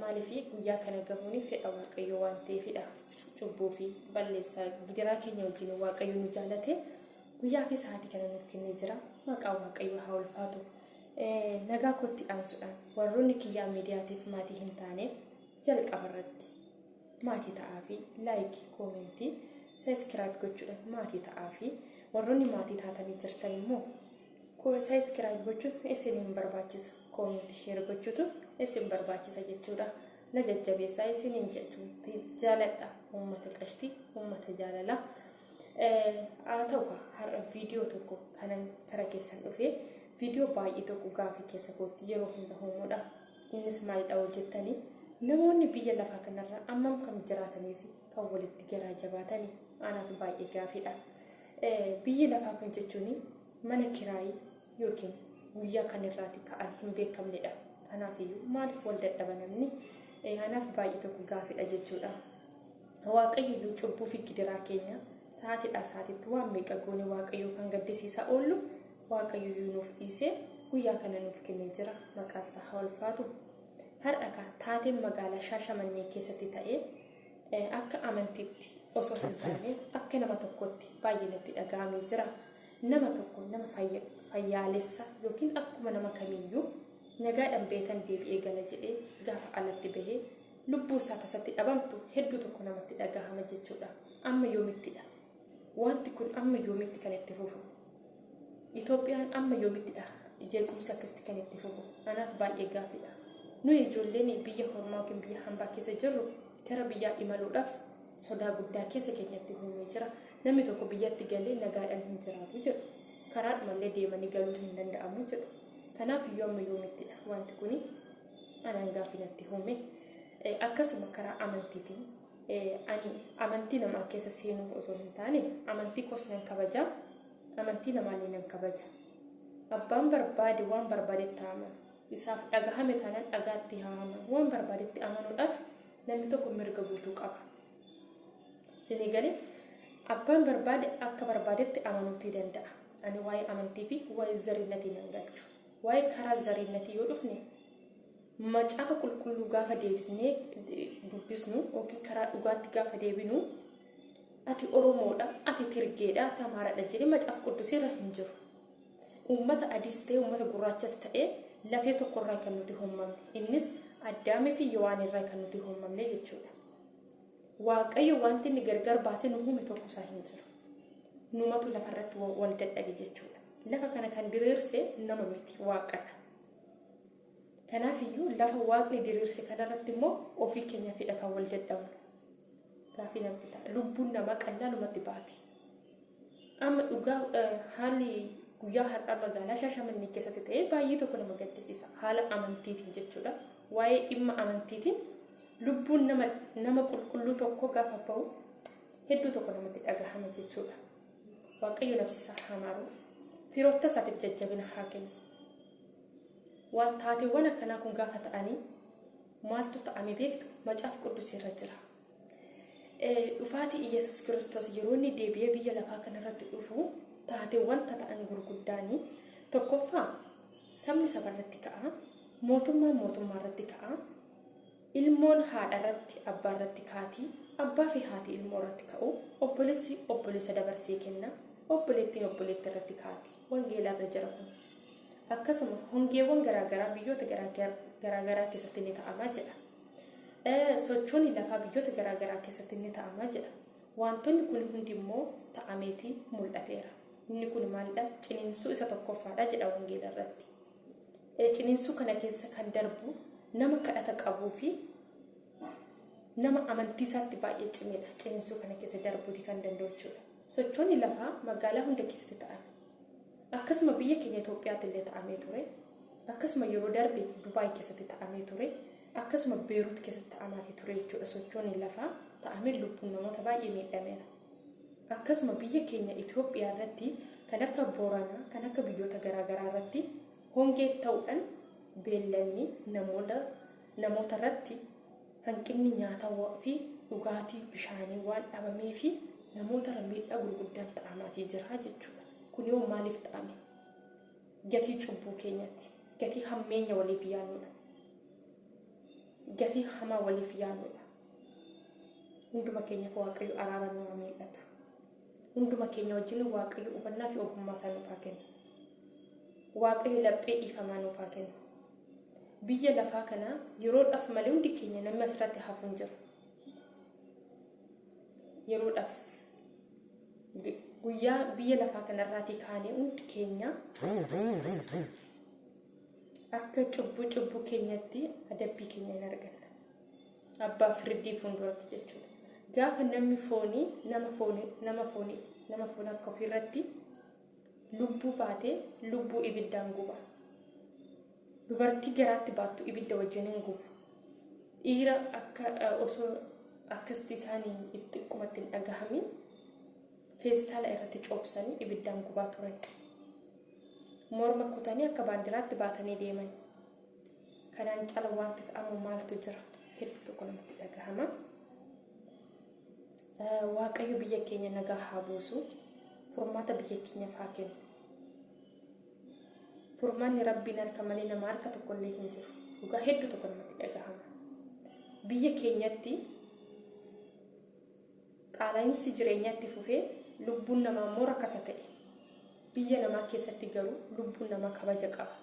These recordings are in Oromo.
Maaliif guyyaa kana gahuun fedha Waaqayyoo waan ta'eefidha. Cubbuu fi balleessaa gidiraa keenya wajjin Waaqayyo nu jaalate guyyaa fi sa'aatii kana nuuf kennee jira. Maqaa Waaqayyoo haa ulfaatu. Nagaa kootti aansuudhaan warroonni kiyyaa miidiyaatiif maatii hin taane jalqaba irratti maatii ta'aa fi laayikii koomentii sabiskiraayib gochuudhaan maatii ta'aa fi warroonni maatii taatanii jirtan immoo koo sabiskiraayib gochuun isin hin barbaachisu koomeenti sheer gochuutu isin barbaachisa jechuudha na jajjabeessaa isin hin jechuutti jaaladha uummata qashtii uummata jaalalaa haa ta'u har'a viidiyoo tokko kanan kara keessan dhufee viidiyoo baay'ee tokko gaafii keessa kootti yeroo hunda uumudha innis maalidha hojjettanii namoonni biyya lafaa kanarra ammam kam jiraatanii fi kan walitti garaa jabaatanii anaaf baay'ee gaafiidha. Biyyi lafaa kun jechuun mana kiraayii yookiin guyyaa kan irraati ka'an hin beekamnedha. Kanaafiyyuu maaliif wal dadhaba namni? Kanaaf baay'ee tokko gaafidha jechuudha. Waaqayyoyyuu cubbuu fi gidiraa keenya sa'aatiidhaa sa'aatiitti waan meeqa goone waaqayyoo kan gaddisiisaa oollu waaqayyoyyuu nuuf dhiisee guyyaa kana nuuf kennee jira maqaan isaa haa ulfaatu. Har'a kaa taateen magaalaa Shaashamannee keessatti ta'ee Akka amantiitti osoo hin taane akka nama tokkootti baay'ee natti dhaga'amee jira. Nama tokko nama fayyaalessa yookiin akkuma nama kamiiyyuu nagaadhaan beetan deebi'ee gala jedhee gaafa alatti bahee lubbuu isaa tasatti dhabamtu hedduu tokko namatti dhagahama jechuudha. Amma yoomittidha Waanti kun amma yoomitti kan itti fufu? Itoophiyaan amma yoomittidha jeequmsi akkasitti kan itti fufu? Anaaf baay'ee gaaffiidha. Nuyi ijoolleen biyya hormaa yookiin biyya hambaa keessa jirru gara biyyaa imaluudhaaf sodaa guddaa keessa keenyatti uumee jira. Namni tokko biyyatti galee nagaadhaan hin jiraatu jedhu. Karaadhumallee deemanii galuun hin danda'amu jedhu. Kanaaf iyyuu amma yoomittidha waanti kuni anaan gaaffii natti uume. Akkasuma karaa amantiitiin Ani amantii namaa keessa seenuu osoo hin taane amantii koos nan kabaja, amantii namaallee nan kabaja. Abbaan barbaade waan barbaadetti haa amanu. Isaaf dhagahame taanaan dhagaatti haa amanu. Waan barbaadetti amanuudhaaf namni tokko mirga guutuu qaba. Isinii galee abbaan barbaade akka barbaadetti amanuutii danda'a. Ani waa'ee amantii fi waa'ee zariinnatii nan galchu. Waa'ee karaa zariinnatii yoo dhufne Macaafa Qulqulluu gaafa deebisnee dubbisnu yookiin karaa dhugaatti gaafa deebinu ati Oromoodha, ati Tirgeedha, ati Amaaraadha jedhee macaafa quddusii irra hin jiru. Uummata adiis ta'e uummata gurraachas ta'e lafee tokko irraa kan nuti hommamne innis Addaamii fi Yowaan irraa kan nuti hommamne jechuudha. Waaqayyo wanti inni gargar baasee nu uume tokko isaa hin jiru. Numatu lafarratti wal dadhabe jechuudha. Lafa kana kan diriirse nama miti waaqadha. Kanaaf iyyuu lafa Waaqni diriirse kana irratti immoo ofii keenyaafii dha kan wal dadhabnu. Gaaffii namatti ta'a. Lubbuun namaa qallaalumatti baati. Amma dhugaa haalli guyyaa har'aa magaalaa Shaashamannee keessatti ta'e baay'ee tokko nama gaddisiisa. Haala amantiitiin jechuudha. Waa'ee dhimma amantiitiin lubbuun nama nama qulqulluu tokko gaafa ba'u hedduu tokko namatti dhagahama jechuudha. Waaqayyo nafsisaa haa maaru. Firoota isaatiif jajjabina haa kennu. Waan taateewwan akkanaa kun gaafa ta'anii maaltu ta'ame beektu macaaf quddus irra jira. Dhufaatii Iyyasuus Kiristoos yeroo inni deebi'ee biyya lafaa kanarratti dhufu taateewwan tata'an gurguddaanii tokkoffaa sabni saba irratti ka'a mootummaan mootummaa irratti ka'a Ilmoon haadha irratti, abbaa irratti kaati, abbaa fi haati ilmoo irratti ka'u, obbolessi obbolessa dabarsee kenna, obboleettiin obboleetti irratti kaati. Wangeela irra jira kun. Akkasuma hongeewwan garaa garaa biyyoota garaa garaa keessatti ni ta'ama jedha. Sochoonni lafaa biyyoota garaa garaa keessatti ni ta'ama jedha. Wantoonni kun hundi immoo ta'ameeti mul'ateera. Inni kun maalidha? Ciniinsuu isa tokkoffaadha jedha wangeela irratti. Ciniinsuu kana keessa kan darbu nama kadhata qabuu fi nama amantii isaatti baay'ee cimedha. Ciniinsuu kana keessa darbuuti kan danda'u jechuudha. Sochoonni lafaa magaalaa hunda keessatti ta'an. Akkasuma biyya keenya Itoophiyaatti illee ta'amee ture. Akkasuma yeroo darbe Dubaay keessatti ta'amee ture. Akkasuma Beerut keessatti ta'amaati ture jechuudha. Sochoonni lafaa ta'amee lubbuun namoota baay'ee miidhameera. akkasuma biyya keenya Itoophiyaa irratti kan akka Booranaa kan akka biyyoota garaa garaa irratti hongeef ta'uudhan beellanni namoota namoota irratti hanqinni nyaatawa fi dhugaatii bishaanii waan dhabamee fi namoota irra miidhaa gurguddaan ta'amaatii jiraa jechuudha kun yoo maaliif ta'ame gatii cubbuu keenyatti gatii hammeenya waliif yaannuudha gatii hamaa waliif yaannuudha hunduma keenyaaf waaqayyo araara nu haa miidhatu hunduma keenya wajjin waaqayyo hubannaa fi ogummaa isaa nuuf haa kennu waaqayyo laphee dhiifamaa nuuf haa kennu biyya lafaa kana yeroodhaaf malee hundi keenya namni asirratti hafu hin jiru yeroodhaaf gu- guyyaa biyya lafaa kanarraatii kaanee hundi keenya akka cubbuu cubbuu keenyatti adabbii keenya hin arganna abbaa firdii fuulduratti jechuudha. Gaafa namni foonii nama foonii nama foonii nama foon akka ofiirratti lubbuu baatee lubbuu ibiddaan guba. Dubartii garaatti baattu ibidda wajjin hin gubu. Dhiira akka osoo akkasti isaanii itti xiqqumatti hin dhagahamin feestaala irratti coobsanii ibiddaan gubaa turan. Morma kutanii akka baandiraatti baatanii deeman. Kanaan cala wanti ta'amu maaltu jira? Hedduu tokko namatti dhagahama. Waaqayyo biyya keenya nagaa haa buusu. Furmaata biyya keenyaaf haa kennu. Furmaanni rabbiin harka malee nama harka tokkollee hin jiru. Dhugaa hedduu tokko namatti dhagahama. Biyya keenyatti Qaala'iinsi jireenyaa itti fufee lubbuun namaa immoo rakasa ta'e. Biyya namaa keessatti garuu lubbuun namaa kabaja qaba.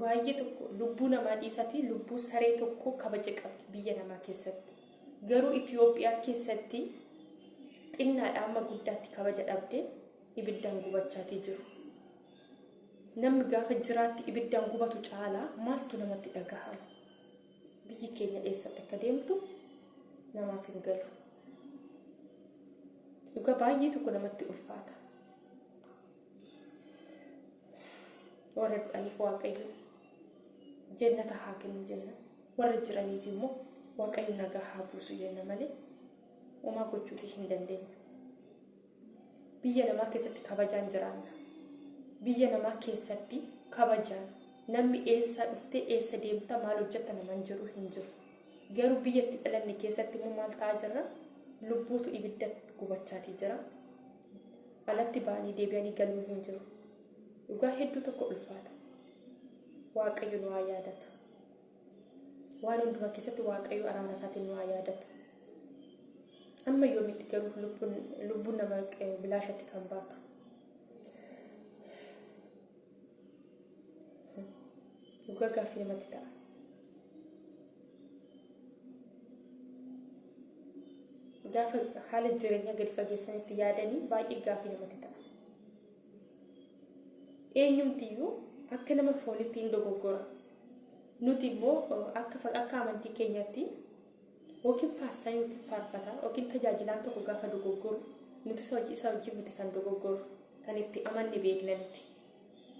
Baay'ee tokko lubbuu namaa dhiisatii lubbuu saree tokkoo kabaja qabdi biyya namaa keessatti. Garuu Itoophiyaa keessatti xinnaadhaa amma guddaatti kabaja dhabdee ibiddaan gubachaatii jiru. Namni gaafa jiraatti ibiddaan gubatu caalaa maaltu namatti dhagahama? Biyyi keenya eessatti akka deemtu namaaf hin galu. Dhugaa baay'ee tokko namatti ulfaata. Warra du'aniif waaqayyo jennata haa kennu jenna. Warra jiraniif immoo waaqayyo nagaa haa buusu jenna malee homaa gochuutii hin dandeenyu. biyya namaa keessatti kabajaan jiraanna biyya namaa keessatti kabajaan namni eessaa dhuftee eessa deemta maal hojjetta naman jedhu hin jiru garuu biyya itti dhalanne keessatti immoo maal ta'aa jirra lubbuutu ibidda gubachaatii jira alatti ba'anii deebi'anii galuun hin jiru dhugaa hedduu tokko ulfaata waaqayyo nu haa yaadatu Waan hundumaa keessatti Waaqayyo araara isaatiin nu haa yaadatu. Amma yoomitti garuu lubbuun lubbuun nama eh, bilaashatti kan baatu. Dhugaa gaaffii namatti ta'a. Gaafa haala jireenyaa gadi fageessanitti yaadanii baay'ee gaaffii namatti ta'a. Eenyumtiyyuu akka nama foonitti in dogoggora. Nuti immoo akka akka amantii keenyatti yookiin faastaa yookiin faarfataa yookiin tajaajilaan tokko gaafa dogoggoru nuti isa hojii isaa wajjin miti kan dogoggoru kan itti amanne beekna miti.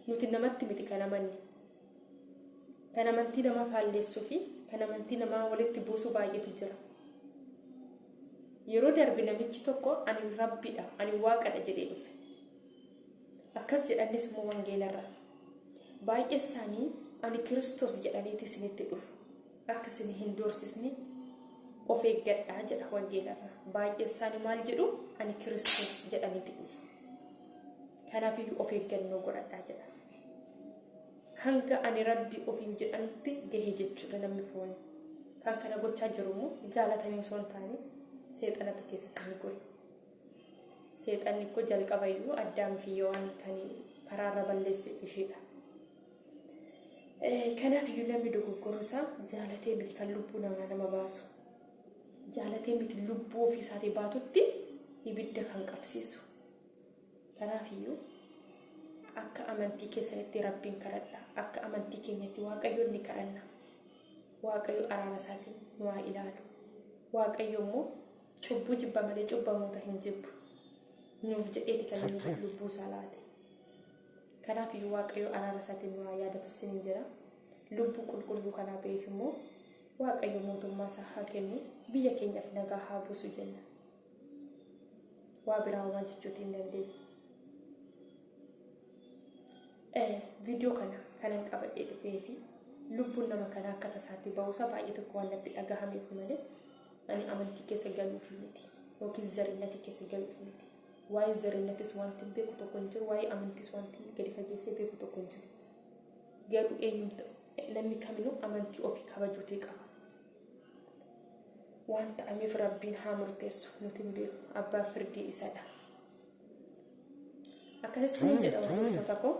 Nuti namatti miti kan amanne Kan amantii namaa faalleessuu fi kan amantii namaa walitti buusu baay'eetu jira. Yeroo darbe namichi tokko ani rabbiidha, ani waaqadha jedhee dhufe. Akkas jedhannis immoo wangeelarra. Baay'ee isaanii ani kiristoos jedhaniiti isinitti dhufu. Akka isin hin doorsisne of eeggadhaa jedha wangeelarra. Baay'ee isaanii maal jedhu ani kiristoos jedhaniiti dhufu. Kanaafiyyuu of eeggannoo godhadhaa jedha. hanga ani rabbi ofiin jedhanutti gahe jechuudha namni fooni kan kana gochaa jiru immoo jaalatanii osoo hin taane seexanatu keessa isaanii gore seexanni koo jalqaba iyyuu addaam fi yawaan kan karaarra balleesse isheedha kanaaf iyyuu namni dogoggoruu isaa jaalatee miti kan lubbuu namaa nama baasu jaalatee miti lubbuu ofii isaatii baatutti ibidda kan qabsiisu Kanaaf iyyuu akka amantii keessanitti Rabbiin kadhadhaa, akka amantii keenyatti Waaqayyoon ni kadhanna. Waaqayyo araara isaatiin nu haa ilaalu. Waaqayyo immoo cubbuu jibba malee cubbamoota hin jibbu. Nuuf jedheeti kan inni lubbuu isaa laate. Kanaaf iyyuu Waaqayyo araara isaatiin nu haa yaadatu isiniin jedha. Lubbuu qulqulluu kanaa ba'eef immoo Waaqayyo mootummaa isaa haa kennu, biyya keenyaaf nagaa haa buusu jenna. waa biraa homaa jechuuti hin dandeenye. Viidiyoo kana kanan qabadhee dhufee fi lubbuun nama kana akka tasaatti ba'uusaa baay'ee tokko waan natti dhagahameef malee ani amantii keessa galuuf miti yookiin zarinnati keessa galuuf miti. Waa'ee zarinnatis wanti beeku tokko hin jiru waa'ee amantis wanti gadi fageessee beeku tokko hin jiru. Garuu eenyumti namni kaminuu amantii ofii kabajuutii qaba. Waan ta'ameef Rabbiin haa murteessu nuti hin beeku abbaan firdii isadha. Akkasii sinin jedha hordoftoota koo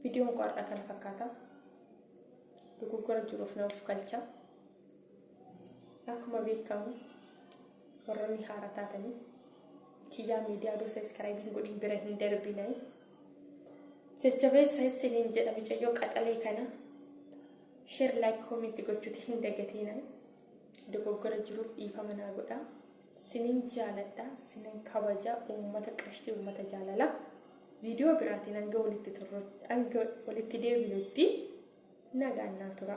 viidiyoon koo har'a kana fakkaata. Dogoggora jiruuf na of galcha. Akkuma beekamu warroonni haara taatanii kiyyaa miidiyaa doo sabiskiraayibiin godhiin bira hin darbinee. Jajjabeessa isiniin jedha micayyoo qaxalee kana. Share like comment gochuti hin dagatiina dogoggora jiruuf dhiifama naa godha sinin jaaladha sinin kabaja uummata qashtii uummata jaalala viidiyoo biraatiin hanga walitti turrutti hanga walitti deebinutti nagaan naa tura.